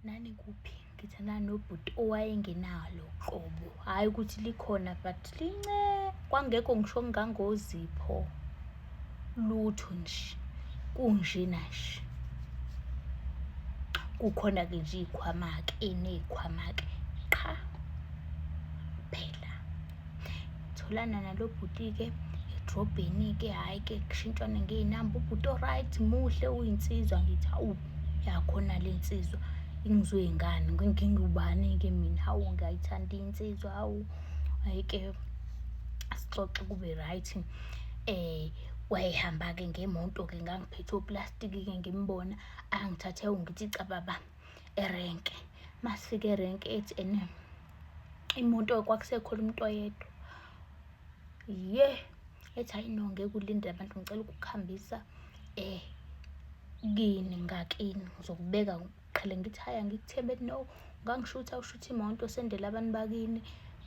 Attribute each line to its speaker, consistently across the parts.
Speaker 1: nani kuphi ngithanda nobhuti owayengenalo qobo hhayi ukuthi likhona but lince kwangekho ngisho ngangozipho lutho nje kunjena nje kukhona-ke nje iy'khwama-ke eney'khwama-ke qha phela tholana nalo bhuti-ke edrobheni-ke hhayi ke kushintshwane ngey'namba ubhuti o-right muhle uyinsizwa ngithi hawu yakhona le nsizwa ingizoyingane ngingubani-ke mina hawu ngiyayithanda insizwa hawu hhayi-ke sixoxe kube right um eh, wayehamba-ke ngemoto-ke ngangiphethe oplastiki-ke ngimbona angithathe ungithi cababa erenke masifike erenke ethi ene imoto kwakusekhona umuntu oyedwa ye ethi hayi no ngeke ulinde abantu ngicela ukukuhambisa eh kini ngakini ngizokubeka qhele ngithi haya ngikuthembe no ngangishutha ushutha imoto sendela abantu bakini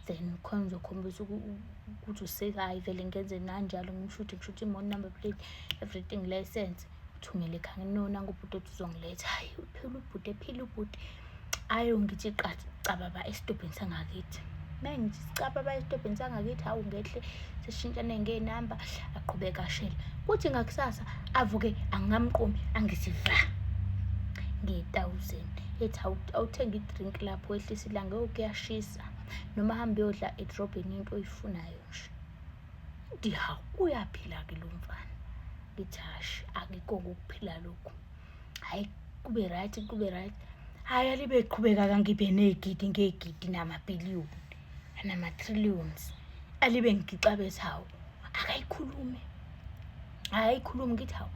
Speaker 1: then khona uzokhombisa ukuthi usekayi vele ngenze nanjalo ngimshuthe ngishuthe imoto number plate everything license Thumele ekhaya no nangu ubhuti othi uzongiletha hayi uphila ubhuti ephila ubhuti ayo ngithi cababa esitobhini sangakithi mengithi sicababa esitobhini sangakithi hawu ngehle sishintshane ngey'namba aqhubeka ashela kuthi ngakusasa avuke angamqomi angithi va nge-thousand ethi awuthenga idrink lapho wehlisa ilanga yokuyashisa noma hambe yodla edrobheni into oyifunayo nje Ngithi hawu uyaphila-ke lo mfana. Ngithi hashi akikho ukuphila lokhu. Hhayi kube right kube right. Hhayi alibe qhubeka kangibe ney'gidi ngey'gidi namabhiliyoni anama-trillions. Alibe ngigixabeza hawu akayikhulume. Hhayi ayikhulume ngithi hawu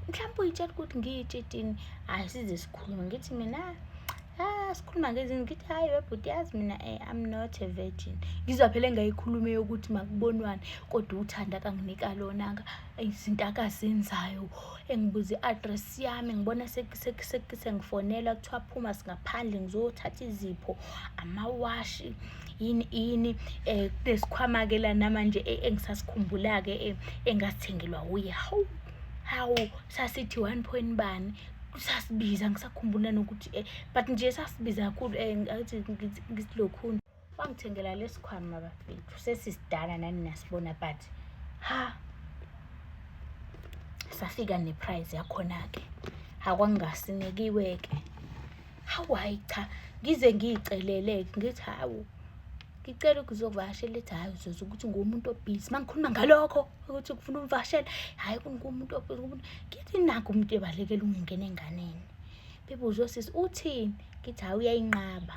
Speaker 1: mhlawumbe uyitshela ukuthi ngiyitshitini. Hhayi size sikhulume ngithi mina ah sikhuluma ngezinto ngithi hhayi webhuti yazi mina um i'm not a virgin ngizwa phela engayikhulume yokuthi makubonwane kodwa uthanda kanginika lonaka izinto akazenzayo engibuza i-address yami ngibona sengifonelwa kuthiwa phuma singaphandle ngizothatha izipho amawashi yini yini um kunesikhwama-ke la namanje e, engisasikhumbula-ke e, engasithengelwa wuye hawu hawu sasithi one point bani sasibiza ngisakhumbula nokuthi um but nje sasibiza kakhulu um athi ngisilokhuni wangithengela lesikhwama bafethu sesisidala nani nasibona but ha safika neprize yakhona-ke akwangasinekiwe-ke hawu hhayi cha ngize ngiy'celele-ke ngithi hawu ngicela ukuzovakashela ethi hhayi uzoza ukuthi nguwumuntu obhizi uma ngikhuluma ngalokho ukuthi kufuna umvakashela hhayi kungumuntu obhizi ngithi nakho umuntu ebalekela ukungena enganeni bebuze osisi uthini ngithi hhayi uyayinqaba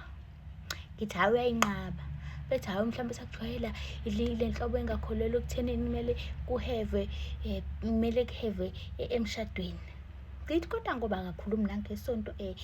Speaker 1: ngithi hhayi uyayinqaba bethi hhayi mhlawumbe sakujwayela le nhlobo engakholelwa ekuthenini kumele kuheve um kumele kuheve e-, emshadweni Ngithi kodwa ngoba akakhulumi nangesonto eh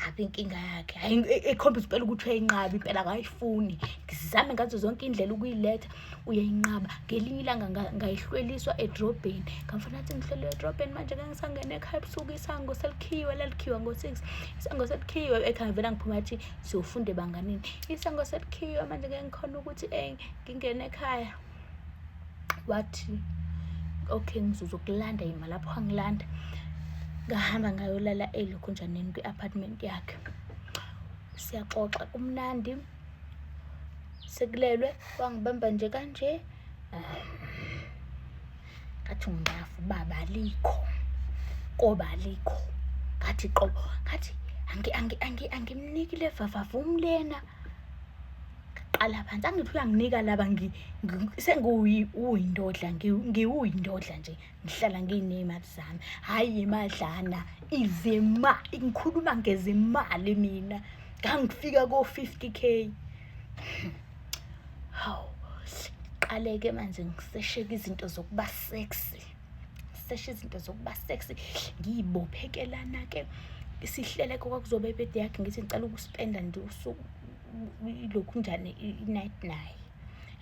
Speaker 1: habi inkinga yakhe hayi ekhombisa impela ukuthi uyayinqaba impela akayifuni ngizame ngazo zonke indlela ukuyiletha uyayinqaba ngelinye ilanga ngayihlweliswa edrobheni ngamfana athi ngihlwele edrobheni manje ke ngisangene ekhaya ebusuku isango selikhiwe lalikhiwa ngo-six isango selikhiwe ekhaya vela ngiphuma athi siyofunda ebanganini isango selikhiwe manje ke ngikhona ukuthi um ngingene ekhaya wathi okay ngizozokulanda yima lapho angilanda ngahamba ngayolala elokhonjaneni kwi-apartment yakhe siyaxoxa kumnandi sekulelwe wangibamba nje kanje ngathi ungafu baba alikho koba alikho ngathi qobo ngathi angimniki le vavavum lena qala phansi angithi uyanginika laba sengiwuyindodla ngiwuyindodla nje ngihlala ngiyinemali zami hhayi imadlana izima ngikhuluma ngezimali mina ngangifika ko-fifty k hawu qaleke manje ngisesheke izinto zokuba sexy ngiseshe izinto zokuba sexy ngiyibophekelana-ke isihleleko kwakuzobe ebede yakhe ngithi ngicela ukuspenda nje usuku lokhu njani i-night naye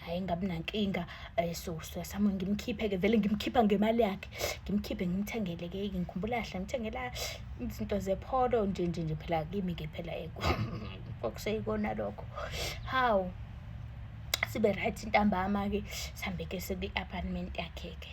Speaker 1: hhayi ngabi nankinga um eh, so siyasama ngimkhiphe-ke vele ngimkhipha ngemali yakhe ngimkhiphe ngimthengele-ke ngikhumbula kahle ngimthengela izinto zepholo nje nje nje phela kimi-ke phela kwakuseyikona lokho hawu sibe right intambama-ke sihambe-ke seku-apartment yakhe-ke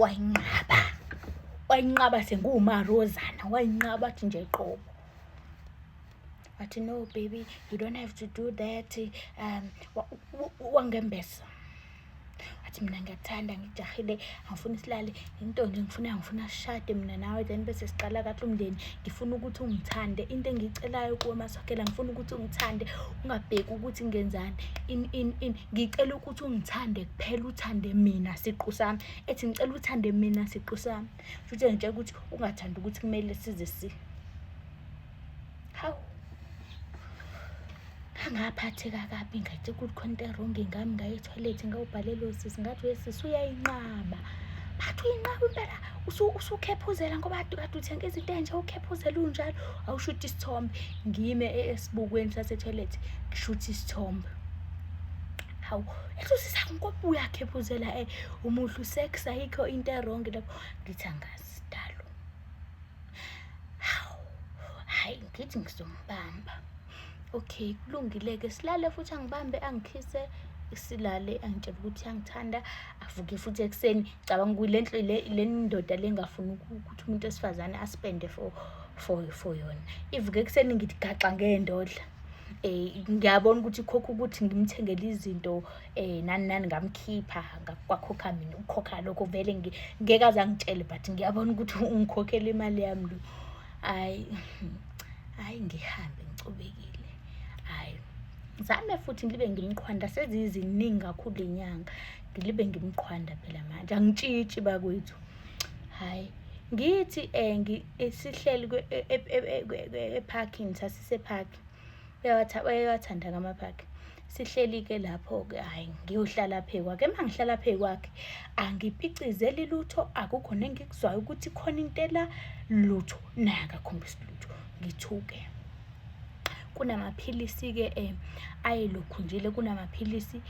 Speaker 1: wayinqaba wayinqaba senguwumarozana wayinqaba athi nje qobo wathi no baby you don't have to do that um wangembesa wathi mina ngiyakuthanda ngijahile angifuna isilale into nje ngifuna ngifuna shade mina nawe then bese siqala kahle umndeni ngifuna ukuthi ungithande into engiyicelayo kuwe masokela ngifuna ukuthi ungithande ungabheki ukuthi ngenzani in in in ngicela ukuthi ungithande kuphela uthande mina siqu sami ethi ngicela uthande mina siqu sami futhi ngitshela ukuthi ungathandi ukuthi kumele size si hawu angaphatheka kabi ngathi ukuthi khona into erongi ngami ngaye ethoyilethi ngawubhalelo sisi ngathi wesisi uyayinqaba bathi uyinqaba impela usukhephuzela ngoba kade uthenga izinto enje ukhephuzela unjalo awushuthi isithombe ngime e-, esibukweni sasethoyilethi ngishuthi isithombe hawu ehlosisa nkopu yakhe phuzela e eh, umuhle usex ayikho into erong lapho ngithi angazi sidalo hawu hayi ngithi ngizombamba okay kulungile-ke silale futhi angibambe angikhise silale angitshela ukuthi angithanda avuke futhi ekuseni cabanga ukuthi le le ndoda le ngafuni ukuthi umuntu wesifazane aspende for for for yona ivuke ekuseni ngithi gaxa ngey'ndodla um ngiyabona ukuthi khokha ukuthi ngimthengele izinto um nani nani ngamkhipha kwakhokha mina ukukhokha lokho vele ngeke aze angitshele but ngiyabona ukuthi ungikhokhela imali yami lo hhayi hhayi ngihambe ngicobekile hhayi zame futhi ngilibe ngimqhwanda seziziningi kakhulu inyanga ngilibe ngimqhwanda phela manje angitshitshi bakwethu hhayi Ngithi um sihleli ephakini sasisephakhi uyawathanda-ke amaphakhi sihleli-ke lapho-ke hhayi ngiyohlala phe kwakhe uma ngihlala phe kwakhe angipicizeli lutho akukho nengikuzwayo ukuthi khona into ela lutho naye akakhombisi lutho ngithuke kunamaphilisi-ke um ayelokhunjile kunamaphilisi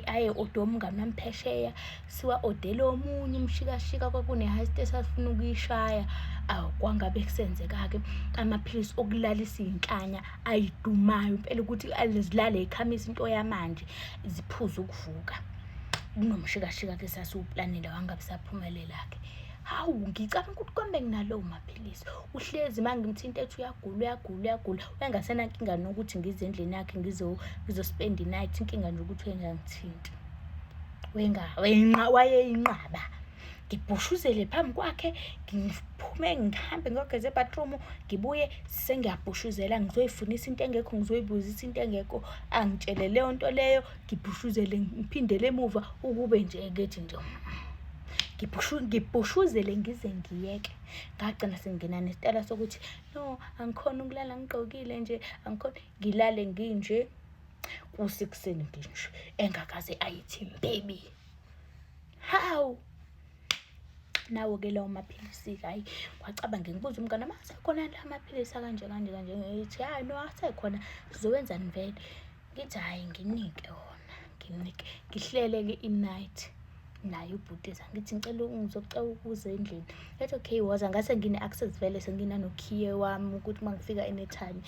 Speaker 1: aye odwa omngani wami phesheya siwa-odele omunye umshikashika kwakune-heist esasifuna ukuyishaya awu kwangabe kusenzeka-ke amaphilisi okulalisa iy'nhlanya ayidumayo impela ukuthi zilale yikhamisa into yamanje ziphuze ukuvuka kunomshikashika ke sasiwuplanele wangabe saphumelela-ke hawu ngicabanga ukuthi kwambe nginalowo maphilisi uhlezi uma ngimthinta ethi uyagula uyagula uyagula uyangasenankinga nokuthi ngize endlini yakhe ngizospenda i-night inkinga nje ukuthi uyengangithinti wayeyinqaba ngibhushuzele phambi kwakhe ngiphume ngihambe ngiyogeza ebathroom ngibuye sengiyabhushuzela ngizoyifunisa into engekho ngizoyibuzisa into engekho angitshele leyo nto leyo ngibhushuzele ngiphindele emuva ukube nje ekethi nje ngibhushuzele ngize ngiyeke ngagcina sengingena nesitala sokuthi no angikhona ukulala ngigqokile nje angikhona ngilale nginje kusekuseni nje nje engakaze ayithi baby how nawo ke lawo maphilisi hayi wacabange ngibuza umngane uma asekhona la maphilisi akanje kanje kanje ngithi hayi no asekhona sizowenzani vele ngithi hhayi nginike wona nginike ngihlele-ke i-night naye ubhuti eza ngithi ngicela ngizocela ukuza endlini ethi okay waza ngase ngine-access vele senginanokhiye wami ukuthi uma ngifika anytime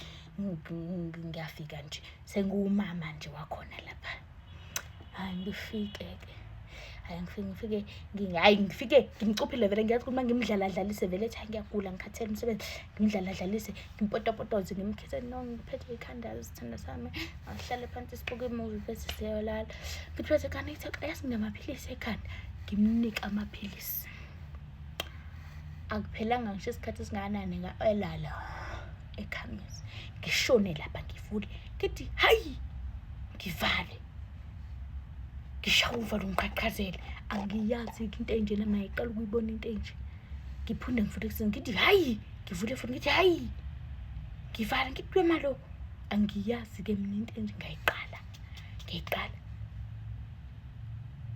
Speaker 1: ngiyafika nje sengiwumama nje wakhona lapha hhayi ngifike-ke hhayi ngifike ngifike hhayi ngifike ngimcuphile vele ngiyazi ukuthi uma ngimdlaladlalise vele ethi hhayi ngiyagula ngikhathele umsebenzi ngimdlaladlalise ngipotopotoze ngimkhethe no ngiphethe ikhanda sithanda sami ahlale phansi sibuke imuvi bese siyolala ngiphethe ikhanda ngithe yazi nginamaphilisi ekhanda ngimnike amaphilisi akuphelanga ngisho isikhathi esingakanani nga-elala ekhamisi ngishone lapha ngivule ngithi hayi ngivale ngishawa uvalo ngiqhaqhazele angiyazi-ke into enjena mayiqala ukuyibona into enje ngiphinde ngivule ekuseni ngithi hayi ngivule futhi ngithi hayi ngivala ngithi kwemalo angiyazi-ke mina into enje ngayiqala ngiyiqala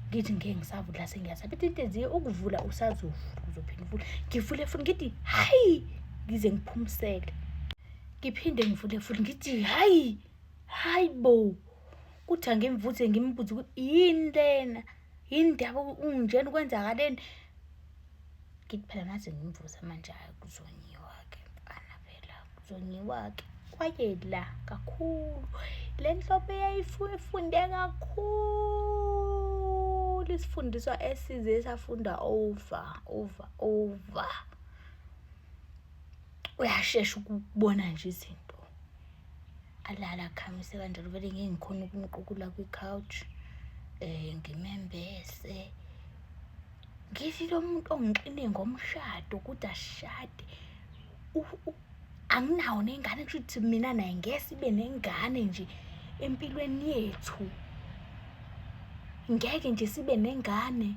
Speaker 1: ngithi ngeke ngisavula sengiyasabe ithi into enziye ukuvula usazovula uzophinde uvule ngivule futhi ngithi hayi ngize ngiphumisele ngiphinde ngivule futhi ngithi hayi hayi bo kuthi angimvuze ngimbuze ukuthi yini lena yini ndaba unjena ukwenzakaleni ngithi phela ngaze ngimvuze manje hayi kuzonyiwa-ke mfana phela kuzonyiwa-ke kwayela kakhulu le nhlobo eyayifunde kakhulu isifundiswa esize safunda over over over uyashesha ukubona nje izinto alala akhamise kanjalo vele ngeke ngikhona ukumqukula kwi-couch um ngimembese ngithi lo muntu ongixine ngomshado ukuthi ashade anginawo nengane kusho ukuthi mina naye ngeke ibe nengane nje empilweni yethu ngeke nje sibe nengane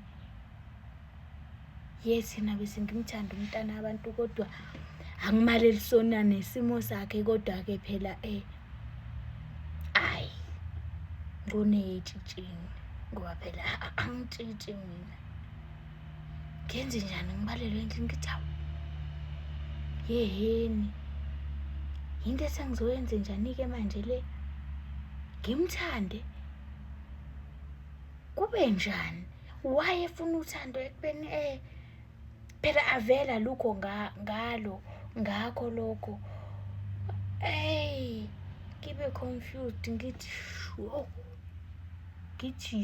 Speaker 1: yes yena bese ngimthanda umntana abantu kodwa angimaleli sona nesimo sakhe kodwa-ke phela um ayi ngoneyetshitshini ngoba phela angitshitshi mina ngenze njani ngibalelwe endlini ngithi awu yeheni yinto esengizoyenze njani-ke manje le ngimthande kube njani why efuna uthando ekubeni eh phela avela lukho ngalo ngakho lokho hey ngibe confused ngithi sho ngithi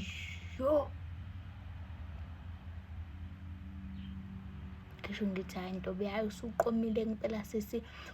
Speaker 1: sho ngisho ngithi hayi ntobe hayi usuqomile ngempela sisi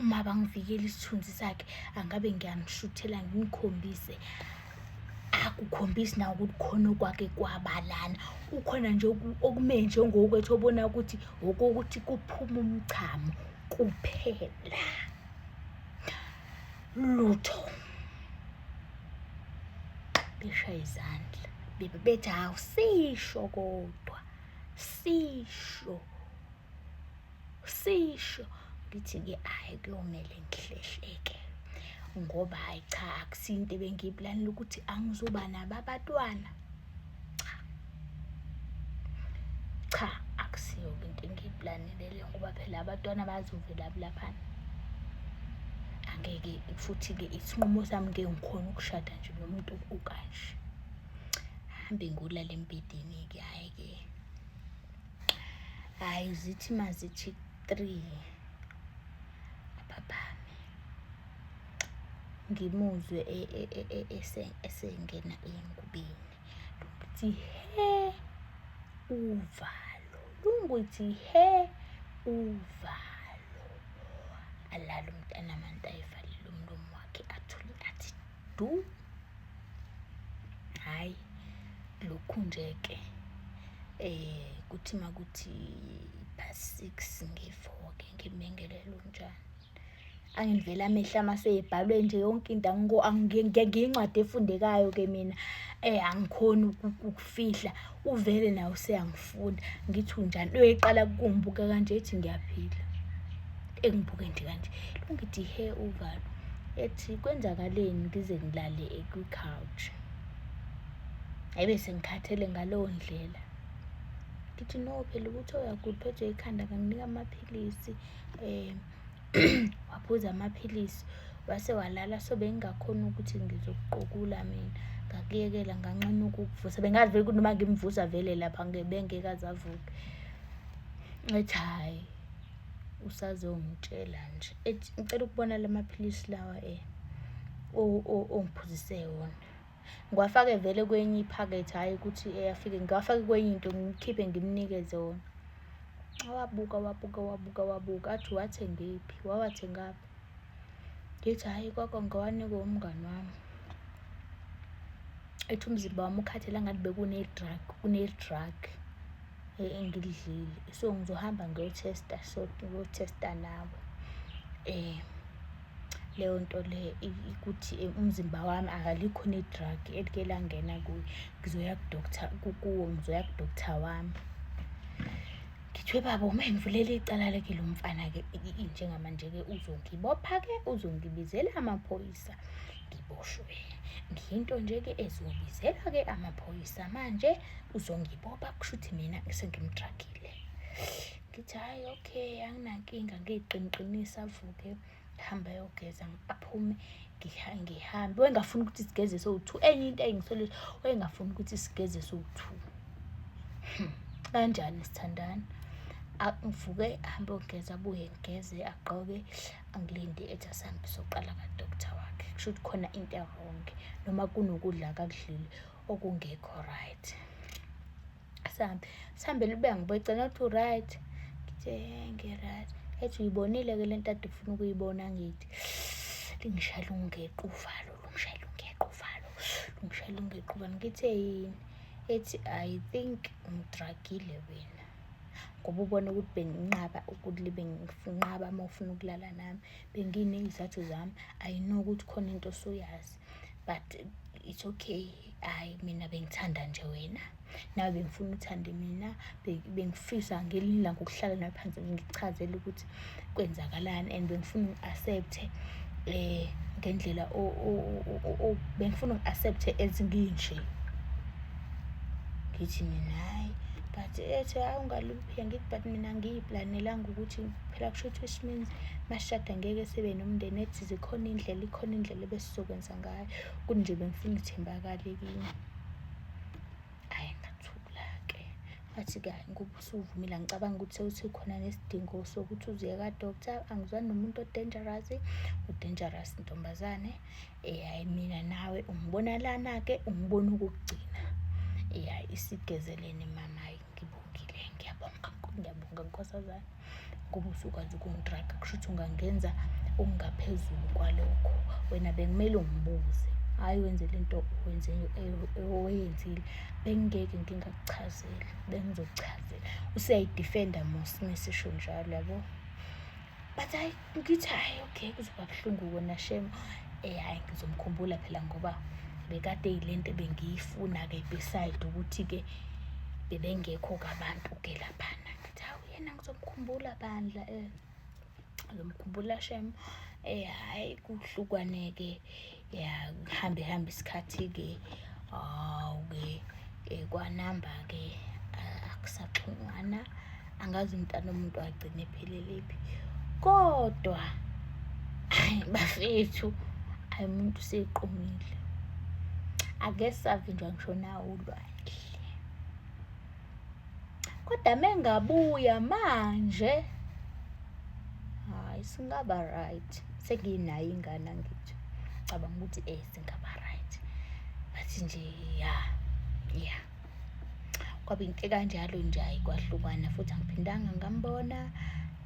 Speaker 1: uma bangivikela isithunzi sakhe angabe ngiyanishuthela nginikhombise akukhombisi na ukuthi khona okwake kwabalana kukhona nje okume njengokwethu obona ukuthi okokuthi kuphuma umchamo kuphela lutho beshaya izandla bebe bethi awusisho kodwa sisho sisho ngithi-ke hhayi kuyomele ngihlehleke ngoba hhayi cha akusinto ebengiyiplanela ukuthi angizoba nabo abatwana cha cha akusiyo into engiyiplanele leyo ngoba phela abatwana bazovela bulaphana angeke futhi-ke isinqumo sami ngeke ngikhona ukushada nje nomuntu okanje hambe ngolala embedeni-ke hhayi-ke hayi zithi mazithi three ababami ngimuzwe e, e, e, esengena engubeni luthi he uvalo lunguthi he uvalo alala umntanami antayivalile umlomo wakhe athule athi du hayi lokhu nje ke eh kuthi makuthi past 6 ngivuke ngimengelele unjani angivela amehla maseyibhalwe nje yonke into angiyingcwadi efundekayo ke mina eh angikhoni fihla uvele nawe useyangifunda ngithi unjani uyoyiqala kumbuka kanje ethi ngiyaphila engibuke nje kanje lungithi he uvalo ethi kwenzakaleni ngize ngilale kwi-couch ayibe sengikhathele ngaleyo ndlela ngithi no phela ukuthi oyakuphethwe ikhanda kanginika amaphilisi um waphuza amaphilisi wase walala so bengingakhoni ukuthi ngizokuqukula mina ngakuyekela nganqena ukukuvusa bengazi vele ukuthi noma ngimvusa vele lapha bengekaze avuke ethi hhayi usazongitshela nje ethi ngicela ukubona la maphilisi lawa um ongiphuzise wona ngiwafake vele kwenye iphakethe hhayi ukuthi eyafike ngiwafake kwenye into ngikhiphe ngimnikeze wona wabuka wabuka wabuka wabuka athi wathengephi wawathengaphi ngithi hhayi kwakwa ngiwanikwe umngani wami ethi umzimba wami ukhathela ngathi bekune-drug une-drug engilidlile so ngizohamba ngiyothesta so ngiyothesta nawe um leyo nto le ukuthi umzimba wami akalikho ne-drug elike langena kuyo ngizoya kudokta kukuwo ngizoya kudokta wami ngithiwe baba uma engivulele icala leke lo mfana-ke njengamanje-ke uzongibopha-ke uzongibizela amaphoyisa ngiboshwe ngiyinto nje-ke ezobizela-ke amaphoyisa manje uzongibopha kusho ukuthi mina sengimdragile ngithi hhayi okay anginankinga ngiyiqiniqinisa avuke hambe ayogeza aphume ngihambe wayengafuni ukuthi sigeze sowu-two enye into ayingisole wayengafuni ukuthi sigeze sowu-two hmm, kanjani sithandana ngivuke ahambe ogeza abuye ngigeze agqoke angilinde ethi asihambe soqala kadoktar wakhe kusho ukuthi khona into eronge noma kunokudla kakudlile okungekho right sihambe sihambe libe ngibecela ukuthi uright ngithe ngiright ethi uyibonile ke le nto ade ufuna ukuyibona ngithi lingishayela ungequvalo lungishayela ungequvalo lungishayela ungequvalo ngithe yini ethi i think ngidragile wena ngoba ubona ukuthi benginqaba ukuthi libe ngifunqaba uma ufuna ukulala nami benginey'zathu zami i know ukuthi khona into osuyazi but it's okay hayi mina bengithanda nje wena nawe bengifuna uthande mina bengifisa ngelinye ilanga ukuhlala nawe phansi ngichazele ukuthi kwenzakalani and bengifuna ngi-accepte um ngendlela bengifuna ngi-accepte ezinginje ngithi mina hhayi but ethi hhayi ungaluphi angithi but mina ngiyiplanelanga ukuthi phela kusho ukuthi which means masishada ngeke sibe nomndeni ethi zikhona iy'ndlela ikhona indlela ebesizokwenza ngayo Kuthi nje bengifuna ithembakale kimi. Hhayi ngathula-ke ngathi kani ngoba usuvumile angicabangi ukuthi sewusekhona nesidingo sokuthi uziye ka-doctor angizwani nomuntu o-dangerous u-dangerous ntombazane um hhayi mina nawe ungibona lana-ke ungibona ukugcina um hhayi isigezeleni mama hhayi ngibongile ngiyabonga ngiyabonga nkosazane ngoba usukwazi ukungidraga kusho ukuthi ungangenza okungaphezulu kwalokho wena bekumele ungibuze hhayi wenze le nto oyenzile bengingeke ngingakuchazeli bengizokuchazela usuyayidifenda mos mesisho njalo yabo but hayi ngithi hhayi okay kuzoba buhlungu kona shem um eh, hhayi ngizomkhumbula phela ngoba bekade yile nto ebengiyifuna-ke beside ukuthi-ke bebengekho-ke abantu-ke laphana Cha uyena ngizomkhumbula bandla eh. Ngizomkhumbula shem. Eh hayi kuhlukwaneke. Ya hambe hambe isikhathi ke. Awu ke eh, kwanamba ke akusaxhungana. Angazi umntana umuntu agcine pheleliphi. Kodwa bafethu ayi umuntu seqomile. Ake savinjwa ngisho nawo ulwazi. kodwa mengabuya manje hayi singaba right senginayo ingane angithi cabanga ukuthi eh singaba right bathi nje ya ya kwaba into kanjalo nje hayi kwahlukana futhi angiphindanga ngambona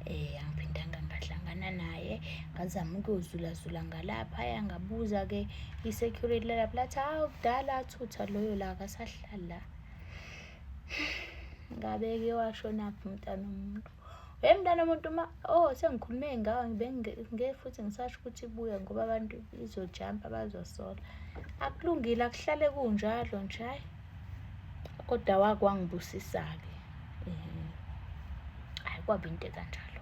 Speaker 1: eh angiphindanga ngahlangana naye ngazama ukuyozulazula ngalapha yangabuza ke i-security lalapho lathi hawu kudala athutha loyo la akasahlala la ngabeke washonaphi umntana omuntu we mntana omuntu uma oh sengikhulume ngawo ngibe futhi ngisasho ukuthi ibuye ngoba abantu izojampa bazosola akulungile akuhlale kunjalo nje hayi kodwa wakwangibusisa-ke um hayi kwaba into ekanjalo